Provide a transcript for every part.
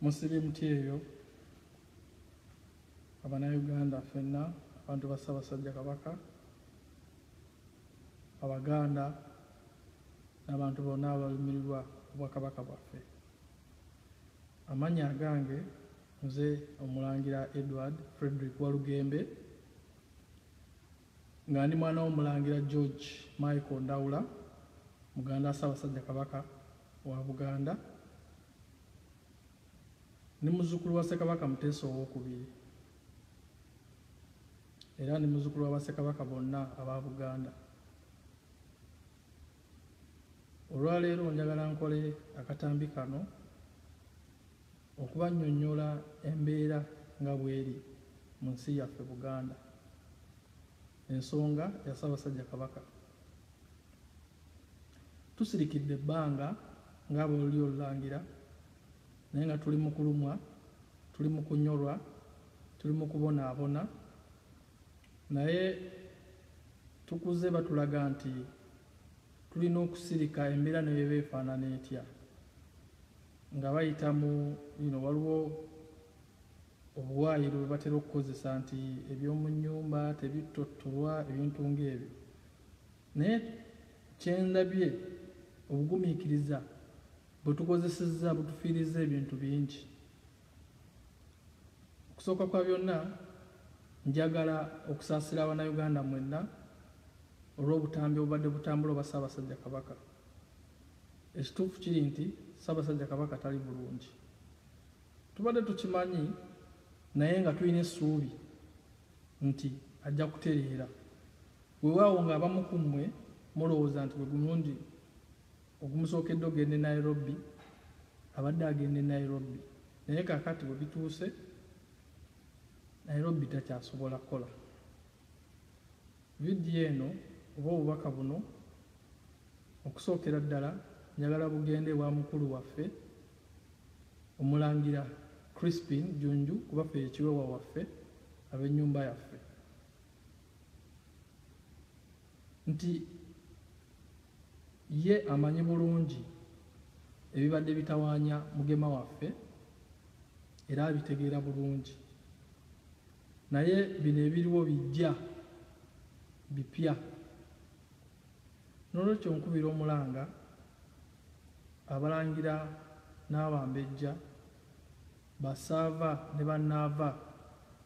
musiri emiti eyo abanauganda fenna abantu ba ssabasajja kabaka abaganda n'abantu bonna abalumirirwa obwakabaka bwaffe amanya agange Nze Omulangira Edward Fredrick Walugembe nga ndi mwana w'Omulangira George Michael Ndawula muganda wa Ssaabasajja Kabaka wa Buganda ni muzzukulu wa Ssekabaka Muteesa ow'okubiri era ni muzzukulu wa Bassekabaka bonna aba Buganda. Olwaleero njagala nkole akatambi kano Okubannyonnyola embeera nga bweri mu nsi yaffe Buganda, ensonga ya Ssabasajja Kabaka. Tusirikidde ebbanga nga abolulyo olulangira naye nga tuli mu kulumwa, tuli mu kunyorwa, tuli mu kubonaabona naye tukuze batulaga nti tulina okusirika embeera nebeba efaanana etya nga bayita mu ino waliwo obuwaayiro bwe batera okukozesa nti eby'omu nnyumba tebittottolwa ebintu ng'ebyo naye kyendabye obugumiikiriza bwe tukozesezza butufiiriza ebintu bingi okusooka kwa byonna njagala okusaasira abanauganda mwenna olw'obutambi obubadde butambula obwa ssaabasajja kabaka Ekituufu kiri nti Ssaabasajja Kabaka tali bulungi. Tubadde tukimanyi naye nga tulina essuubi nti ajja kutereera. Weewaawo ng'abamu ku mmwe mulowooza nti gwe gumulundi ogumusookedde ogenda e Nairobi, abadde agenda e Nairobi naye kaakati bwe bituuse Nairobi takyasobola kukola. Vidiyo eno oba obubaka buno okusookera ddala njagala bugende ewa mukulu waffe Omulangira Crispin Junju kuba ffe ye kiweewa waffe ab'ennyumba yaffe nti ye amanyi bulungi ebibadde bitawaanya Mugema waffe era abitegeera bulungi. Naye bino ebiriwo bijja bipya. N'olwekyo nkubira omulanga Abalangira n'Abambejja, Bassaava ne Bannaava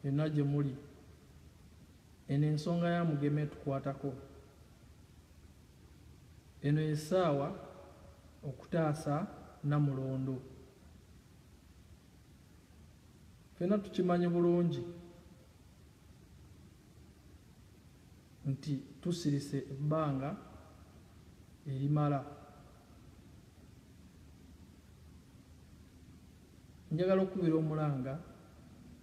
yonna gye muli, eno ensonga ya Mugema etukwatako. Eno ye ssaawa okutaasa Nnamulondo. fena tukimanyi bulungi nti tusirise ebbanga erimala njagala okukubira omulanga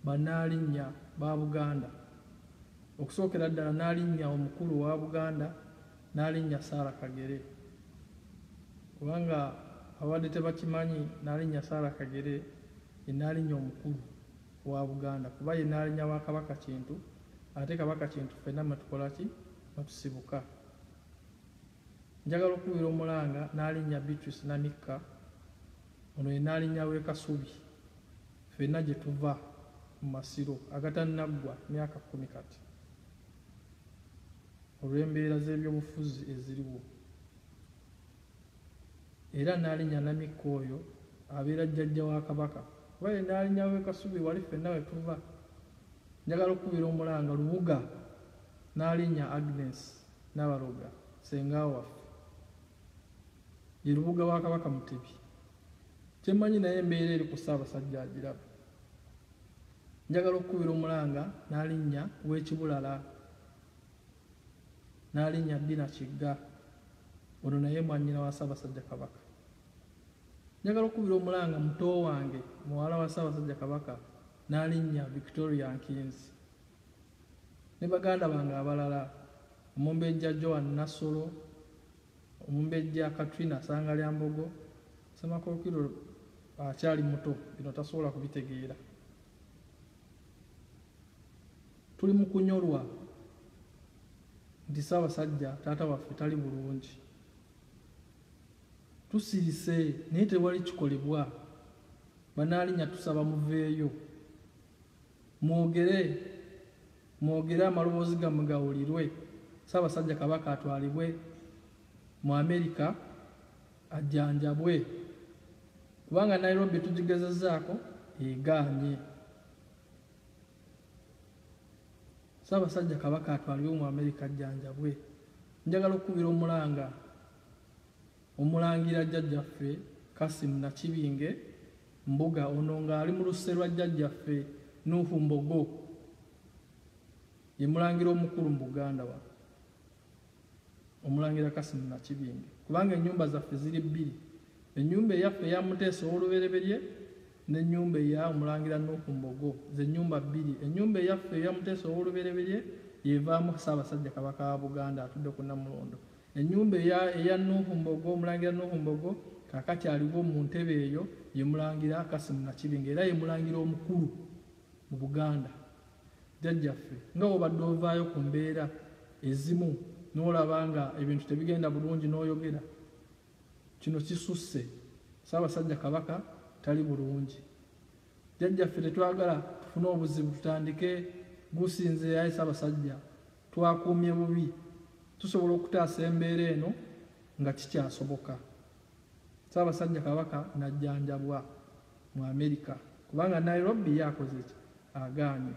banaalinya ba buganda okusookera ddala naalinya omukulu wa buganda Nnaalinnya Sarah Kagere. Kubanga ababadde tebakimanyi, Nnaalinnya Sarah Kagere ye Nnaalinnya omukulu owa Buganda kuba ye Nnaalinnya wa Kabaka Kintu ate Kabaka Kintu ffenna mwe tukola ki? Mwe tusibuka. Njagala okukubira omulanga Nnaalinnya Beatrice Namikka, ono ye Nnaalinnya w'e Kasubi ffenna gye tuva mu Masiro agatannaggwa myaka kkumi kati. olw'embeera z'ebyobufuzi eziriwo era Nnaalinya Namikka oyo abeera jjajja wa Kabaka kuba ye Nnaalinya w'e Kasubi wali ffenna we tuva. Njagala okukubira omulanga Lubuga Nnaalinya Agnes Nabaloga ssenga waffe ye Lubuga wa Kabaka Mutebi. Kye mmanyi naye embeera eri ku Ssaabasajja agiraba. Njagala okukubira omulanga Nnaalinya w'e Kibulala. n'alinnya Bbina Kigga, ono naye mwannyina wa Ssaabasajja Kabaka. Njagala okukubira omulanga muto wange muwala wa Ssaabasajja Kabaka n'alinnya Victoria Nkinzi ne baganda bange abalala Omumbejja Joan Nassolo, Omumbejja Katrina Ssangalyambogo, Ssemakookiro akyali muto bino tasobola kubitegeera. Tuli mu kunyolwa nti Ssaabasajja taata waffe tali bulungi. Tusirise naye tewali kikolebwa. Banaalinya tusaba muveeyo mwogere mwogere amaloboozi gammwe gawulirwe, Ssaabasajja Kabaka atwalibwe mu Amerika ajjanjabwe kubanga Nairobi tugigezezaako egaanye. Ssaabasajja Kabaka atwalibwe mu Amerika ajjanjabwe. Njagala okukubira omulanga omulangira jjajjaffe Kasim Nakibinge Mbuga ono ng'ali mu lusse lwa jjajjaffe Nuuhu Mbogo ye mulangira omukulu mu Buganda wano. Omulangira Kassim Nakibinge, kubanga ennyumba zaffe ziri bbiri, ennyumba eyaffe eya Muteesa ow'olubereberye n'ennyumba eya Omulangira Nuuhu Mbogo, ze nnyumba bbiri. Ennyumba eyaffe eya Muteesa ow'olubereberye y'evaamu Ssaabasajja Kabaka wa Buganda atudde ku Namulondo. Ennyumba eya eya Nuuhu Mbogo, Omulangira Nuuhu Mbogo, kaakati aliwo mu ntebe eyo, ye Mulangira Kassim Nakibinge era ye Mulangira omukulu mu Buganda. jjajjaffe nga wobadde ovaayo ku mbeera ezimu n'olaba nga ebintu tebigenda bulungi n'oyogera kino kisusse ssaabasajja kabaka tali bulungi jjajjaffe tetwagala tufune obuzibu tutandike gusinze yaye ssaabasajja twakuumye bubi tusobola okutaasa embeera eno nga kikyasoboka ssaabasajja kabaka najjanjabwa mu Amerika kubanga Nairobi ye akoze ki agaanye.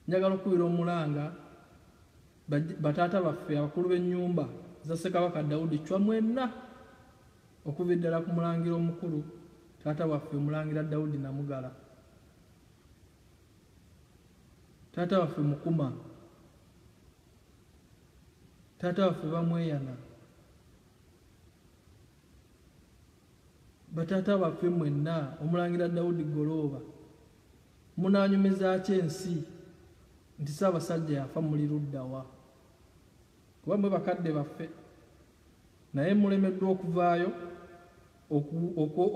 Njagala okukubira omulanga bataata baffe abakulu b'ennyumba za Ssekabaka Daudi Chwa mwenna okuva eddala ku mulangira omukulu taata waffe omulangira Daudi Namugala taata waffe Mukuma taata waffe Bamweyana Bataata baffe mwenna, Omulangira Daudi Golooba, munaanyumiza ki ensi nti Ssaabasajja yafa? Muli ludda wa? Kuba mwe bakadde baffe, naye mulemeddwa okuvaayo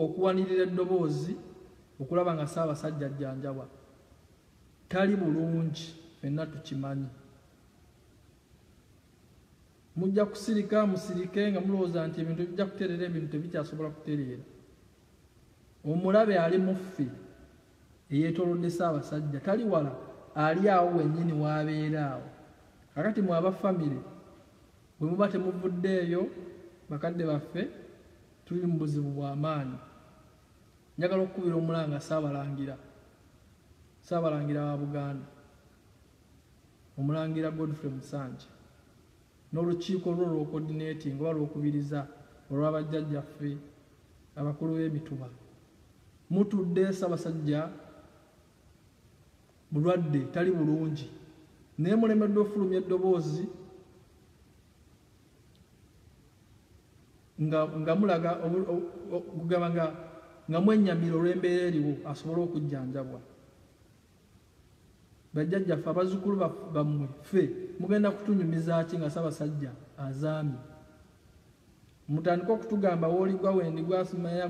okuwanirira eddoboozi okulaba nga Ssaabasajja ajjanjabwa. Tali bulungi, fenna tukimanyi. Mujja kusirika musirike nga mulowooza nti ebintu bijja kutereera ebintu tebikyasobola kutereera. Omulabe ali muffe eyeetolodde Ssaabasajja tali wala ali awo wennyini waabeera awo. Kakati mwe aba famire bwe muba temuvuddeeyo bakadde baffe tuli mu buzibu bwa maanyi. Njagala okukubira omulanga Ssaabalangira Ssaabalangira wa Buganda. Omulangira Godfrey Musanje n'olukiiko lwe olw'okodineetinga oba lw'okubiriza olwa bajjajjaffe abakulu b'emituba. Mutudde Ssabasajja mulwadde tali bulungi naye mulemeddwa okufulumya eddoboozi nga mulaga okugamba nga mwenyamira olw'embeera eriwo asobole okujjanjabwa. Bajjajja ffe abazukulu bammwe ffe mugenda kutunyumiza ki nga Ssabasajja azaami? Mutandike okutugamba wooligwa wendi gwasimaya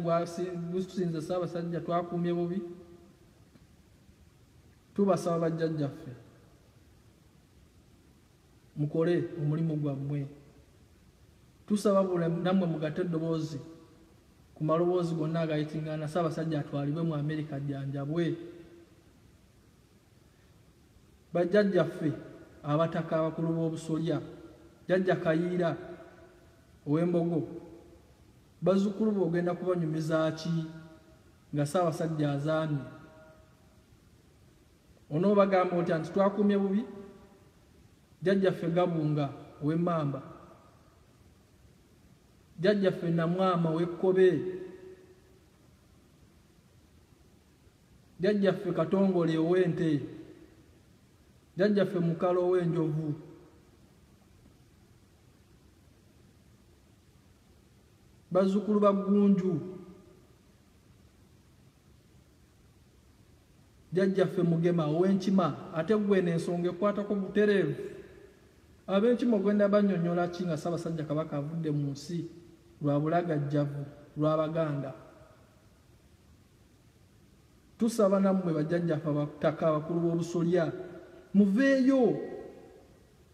gusinze Ssabasajja twakuumye bubi? Tubasaba bajjajja ffe. mukole omulimu gwammwe tusaba bula namwe mugate eddoboozi ku maloboozi gonna agayitingana ssaabasajja atwalibwe mu amerika jjanjabwe bajjajjaffe abataka abakulu b'obusolya jajja kayiira ow'embogo bazzukulu be ogenda kubanyumiza ki nga ssaabasajja azaamye Onoobagamba otya nti twakuumye bubi jjajjaffe Gabunga ow'Emmamba, jjajjaffe Namwama ow'Ekkobe, jjajjaffe Katongole ow'Ente, jjajjaffe Mukalo ow'Enjovu, bazzukulu ba Ggunju. jjajjaffe mugema ow'enkima ate gweno ensonga ekwatako butereevu ab'enkima ogenda banyonyola ki nga ssaabasajja kabaka avudde mu nsi lwa bulagajjavu lw'abaganda tusaba nammwe bajjajjaffe abataka abakulu b'obusolya muveeyo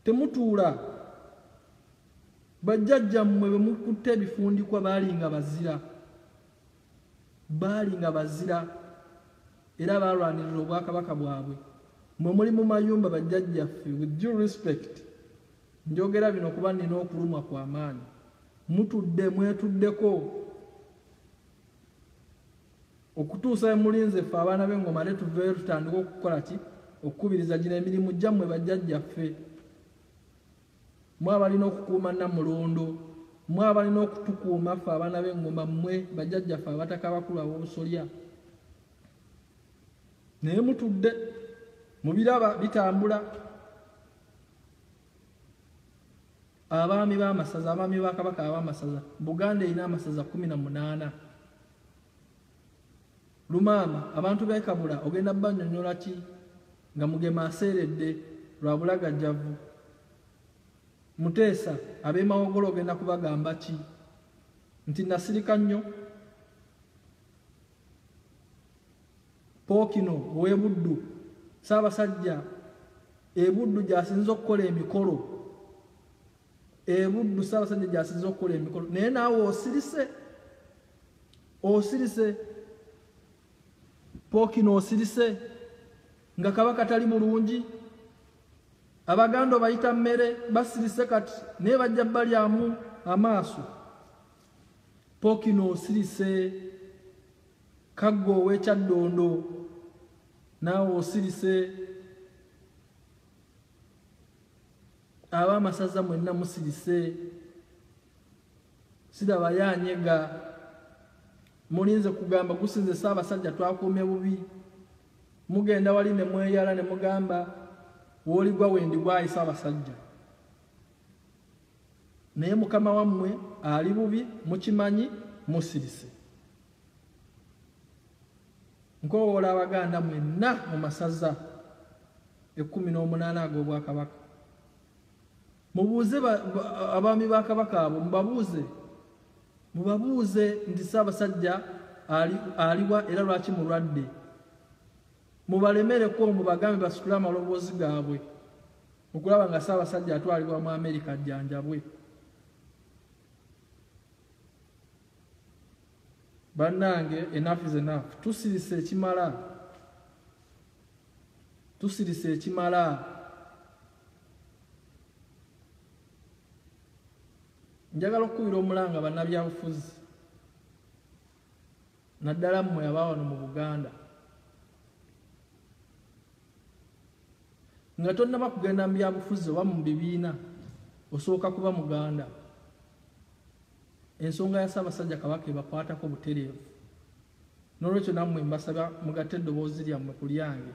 temutuula bajjajjammwe bwe mukutte ebifundikwa baalinga bazira Baali nga bazira era baalwanirira obwakabaka bwabwe. Mwe muli mu mayumba bajjajjaffe, with due respect, njogera bino kuba nnina okulumwa kwa maanyi. Mutudde mwetuddeko okutuusa we mulinze ffe abaana b'engoma ate tuveeyo tutandika okukola ki okukubiriza gino emirimu gyammwe bajjajjaffe. Mmwe abalina okukuuma Nnamulondo, mmwe abalina okutukuuma ffe abaana b'eŋŋoma, mmwe bajjajjaffe abataka abakulu ab'obusolya. Naye mutudde mubiraba bitambula. Abaami b'amasaza, abaami ba Kabaka ab'amasaza, Buganda erina amasaza kkumi na munaana. Lumaama, abantu b'e Kabula ogenda kubannyonnyola ki nga Mugema aseeredde lwa bulagajjavu? Muteesa, ab'e Mawogola ogenda kubagamba ki nti nasirika nnyo? Pookino ow'e Buddu, Ssaabasajja e Buddu gy'asinze okukola emikolo. e buddu ssaabasajja gyasiza okukola emikolo naye naawe osirise osirise pookino osirise nga kabaka tali mulungi abaganda obayita mmere basirise kati naye bajja balyamu amaaso pookino osirise kaggo owekyaddondo naawe osirise aba amasaza mwenna musirise siraba yanyega mulinze kugamba gusinze saabasajja twakuume bubi mugenda wali ne mweyala ne mugamba woligwa wendi gwayi saabasajja naye mukama wammwe ali bubi mukimanyi musirise Nkowoola Abaganda mwenna mu masaza ekkumi n'omunaana ag'Obwakabaka, mubuuze abaami ba Kabaka abo, mubabuuze mubabuuze nti Ssaabasajja aliwa era lwaki mulwadde, mubalemereko mubagambe basitule amaloboozi gaabwe okulaba nga Ssaabasajja atwalibwa mu Amerika ajjanjabwe. Banange enough is enough. Tusirise ekimala. Tusirise ekimala. Njagala okukubira omulanga bannabyabufuzi naddala mmwe aba wano mu Buganda nga tonnaba kugenda mu byabufuzi oba mu bibiina osooka kuba muganda Ensonga ya Ssaabasajja Kabaka ebakwatako butereevu n'olwekyo nammwe mbasaba mugatte eddoboozi lyammwe ku lyange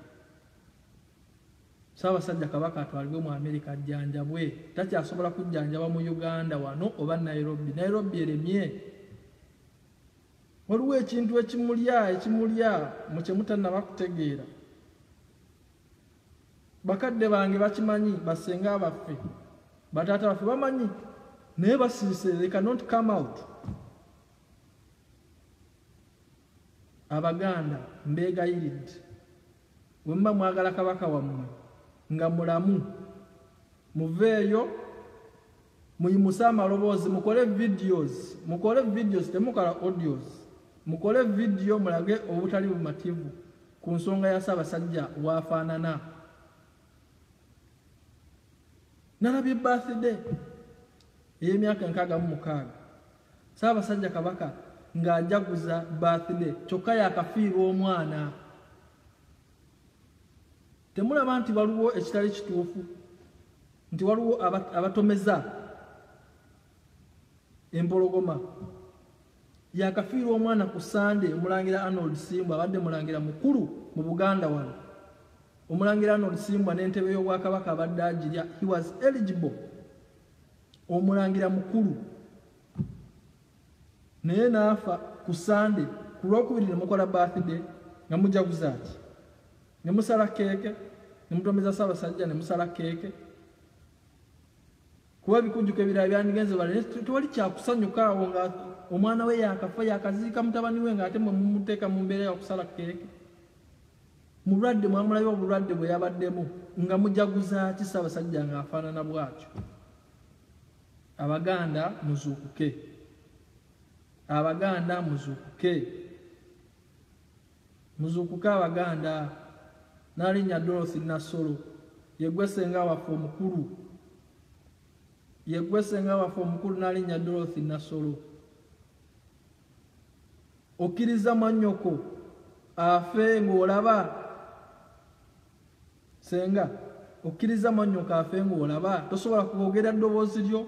Ssaabasajja Kabaka atwalibwe mu Amerika ajjanjabwe. Takyasobola kujjanjaba mu Uganda wano oba Nairobi. Nairobi eremye. Waliwo ekintu ekimulya ekimulya mu kye mutannaba kutegeera. bakadde bange bakimanyi basenga baffe bataata baffe bamanyi naye basirise they cannot come out abaganda mbeegayiridde wemuba mwagala kabaka wammwe nga mulamu muveeyo muyimuse amaloboozi mukole videos mukole videos temukala audios mukole video mulage obutali bumativu ku nsonga ya ssaabasajja waafaanana nalabye birthday ey'emyaka enkaaga mu mukaaga ssaabasajja kabaka ng'ajaguza birthday kyokka yakafiirwa omwana Temulaba nti waliwo ekitali kituufu nti waliwo abatomeza empologoma yakafiirwa omwana ku sande omulangira arnold simbwa abadde mulangira mukulu mu buganda wano omulangira arnold simbwa n'entebe y'obwakabaka abadde agirya he was eligible omulangira mukulu naye naafa ku sande ku lwokubiri ne mukola birthday nga mujaguzaaki ne musala keeke ne mutomeza Ssaabasajja ne musala keeke kuba bikunjuka ebirala byandigenze bale tewali kyakusanyuka awo nga omwana we yakafa yakaziika mutabani we ng'ate mwe mumuteeka mu mbeera yakusala keeke mulwadde mwamulayo obulwadde bwe yabaddemu nga mujaguza ki Ssaabasajja ng'afaanana bwatyo abaganda muzuukuke abaganda muzuukuke Muzuukuke Abaganda! Nnaalinnya Dorothy Nassolo. Ye ggwe ssenga waffe omukulu. Ye ggwe ssenga waffe omukulu Nnaalinnya Dorothy Nassolo. Okkirizza mwannyoko afe ng'olaba? Ssenga, okkirizza mwannyoko afe ng'olaba? Tosobola kwogera ddoboozi lyo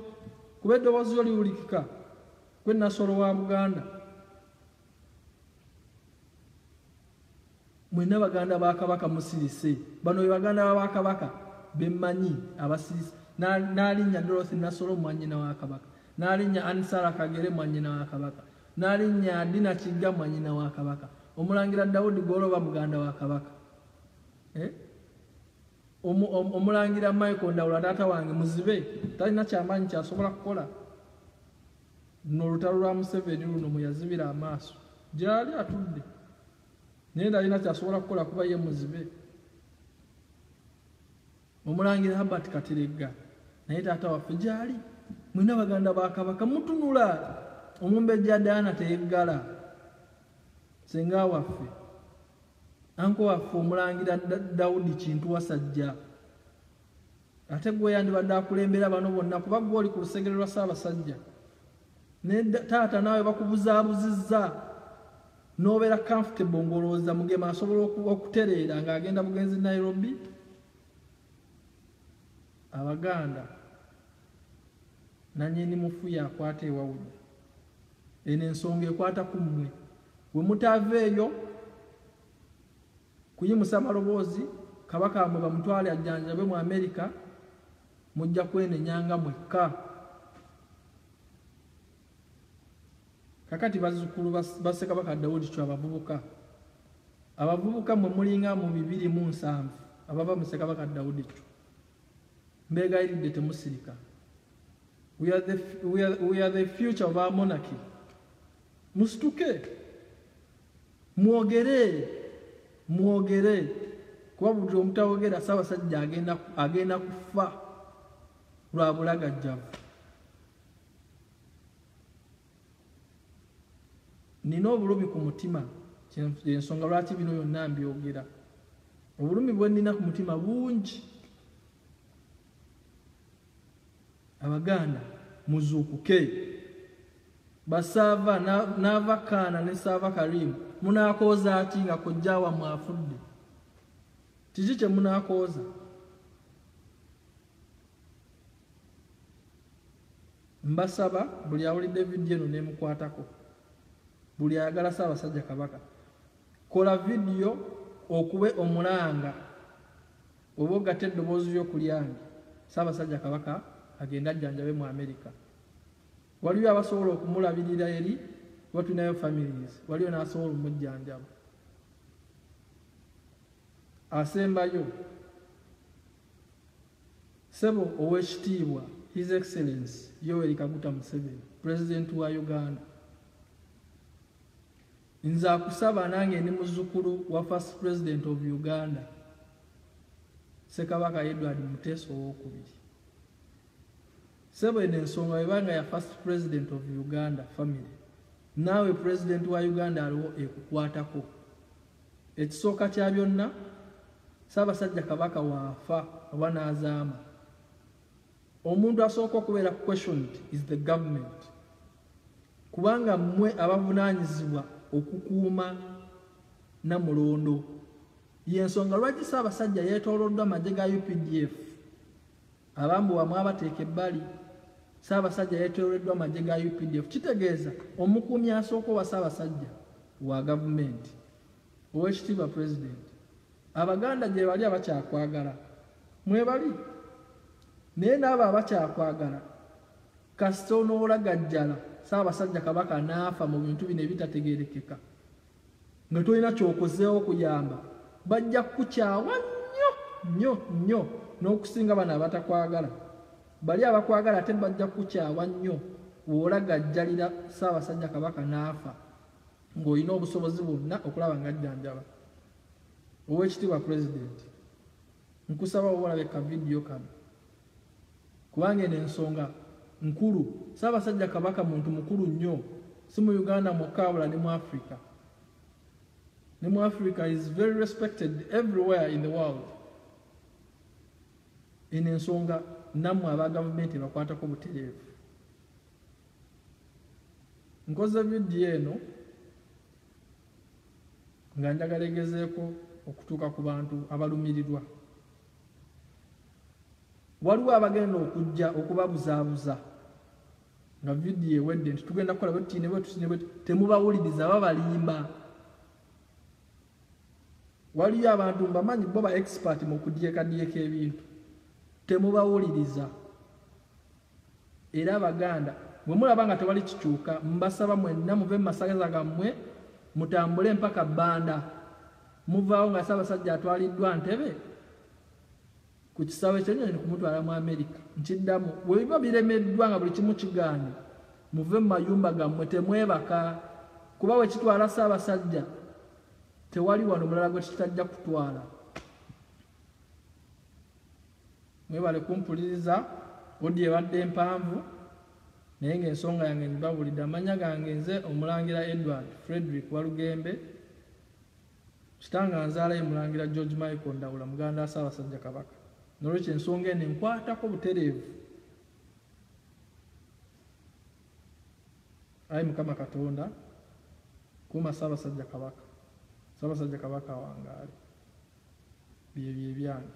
kuba eddoboozi lyo liwulikika. Ggwe Nassolo wa Buganda. mwena baganda ba kabaka musirise bano baganda ba kabaka bemanyi abasirise nalinya dorothy nasolo mwanyina wa kabaka nalinya ansara kagere mwanyina wa kabaka nalinya dina kiga mwanyina wa kabaka omulangira daudi goloba muganda wa kabaka eh? omulangira michael ndawula taata wange muzibe talina kyamanyi kyasobola kukola luno olutalo lwa museveni luno mweyazibira amaaso gyali atudde naye talina kyasobola kukola kuba ye muzibe omulangira habert kateregga naye taata waffe gyali mwena baganda bakabaka mutunula omumbejja daana teyeggala senga waffe anko waffe omulangira dawudi kintu wasajja ate gwe yandibadde akulembera bano bonna kuba gwe oli ku lusegere lwa ssaabasajja ne taata naawe bakubuzaabuzizza n'obeera comfortable ng'olowooza mugema asobola okutereera ng'agenda bugenzi nairobi abaganda nanyini mufu yakwata ewawude eno ensonga ekwata ku mmwe we mutaava eyo Kuyimusa maloboozi, Kabaka wamwe bamutwale ajjanjabwe mu America, mujja kwenenya nga mwekka. Kakati bazzukulu ba Ssekabaka Daudi Chwa bavubuka. Abavubuka mwe mulinga mu bibiri mu nsanvu abava mu Ssekabaka Daudi Chwa. Mbeegayiridde temusirika. We are the, we are, we are the future of our monarchy. Musituke mwogere mwogere kuba buli omutawogera Ssaabasajja agenda kufa lwa bulagajjavu. Nina obulumi ku mutima ensonga lwaki bino byonna mbyogera. Obulumi bwe nina ku mutima bungi. abaganda muzuukuke basaava naava kaana ne saava karimu munakooza ati nga kojja wamwe afudde kiki kye munakooza mbasaba buli awulidde vidiyo eno nemukwatako buli ayagala saabasajja kabaka Kola vidiyo okube omulanga oba ogatte eddoboozi lyo ku lyange. Ssaabasajja Kabaka agende ajjanjabe mu Amerika. Waliyo abasobola okumulabirira eri kuba tulinayo families. Waliyo n'asobola omujjanjaba. Asembayo, Ssebo Oweekitiibwa His Excellence Yoweri Kaguta Museveni, Pulezidenti wa Uganda, Nze akusaba nange ndi muzukulu wa first president of Uganda Ssekabaka Edward Muteesa owokubiri. Sebo eno ensonga webanga ya first president of Uganda family naawe president wa Uganda aliwo ekukwatako. Ekisooka kya byonna Ssaabasajja Kabaka waafa oba n'azaama Omuntu asooka okubeera questioned is the government kubanga mmwe abavunaanyizibwa okukuuma namulondo yensonga lwaki Ssaabasajja yeetooloddwa amagye ga UPDF abambu bamwe abateeka ebbali Ssaabasajja yeetooloddwa amagye ga UPDF kitegeeza omukuumi asooka owa Ssaabasajja wa gavumenti owekitiibwa pulezidenti Abaganda gyebali abakyakwagala mwebali naye naabo abakyakwagala kasita onoolagajjala saabasajja kabaka naafa mu bintu bino ebitategerekeka nga tolina kyokozeewo kuyamba bajja kukukyawa nnyo nnyo nnyo n'okusinga bano abatakwagala bali abakwagala ate bajja kukukyawa nnyo woolagajjalira saabasajja kabaka naafa ng'olina obusobozi bwonna okulaba nga ajjanjaba Owekitibwa president nkusaba oba olabe ka video kano kubanga eno ensonga nkulu Ssaabasajja Kabaka muntu mukulu nnyo si mu Uganda mwokka wabula ne mu Africa ne mu Africa is very respected everywhere in the world eno ensonga nammwe aba gavumenti ebakwatako butereevu nkoze vidiyo eno nga njagala egezeeko okutuuka ku bantu abalumirirwa waliwo abagenda okujja okubabuzaabuza nga vidiyo ewedde nti tugenda kukola bwetutiinebwetusinebwe temubawuliriza babalimba waliyo abantu mbamanyi bo ba expert mu kudyekadyeka ebintu temubawuliriza Era Abaganda bwe mulaba nga tewali kikyuka, mbasaba mwenna muve mu masaza gammwe mutambule mpaka Banda. Muvaawo nga Ssaabasajja atwaliddwa Ntebe ku kisaawe ky'ennyonyi kumutwala mu Amerika. Nkiddamu, bwe biba biremeddwa nga buli kimu kigaanye, muve mu mayumba gammwe temwebaka kuba we kitwala Ssaabasajja tewali wano mulala gwe kitajja kutwala. Mwebale kumpuliriza audio ebadde mpanvu naye ng'ensonga yange ngibabulidde. Amannya gange nze Omulangira Edward Frederick Walugembe. Kitange anzaala ye Mulangira George Michael Ndawula muganda wa Ssaabasajja Kabaka. Nolwekyo ensonga eno enkwatako butereevu. Ayi Mukama Katonda kuuma Ssaabasajja Kabaka. Ssaabasajja Kabaka awangaale. byebyo ebyange.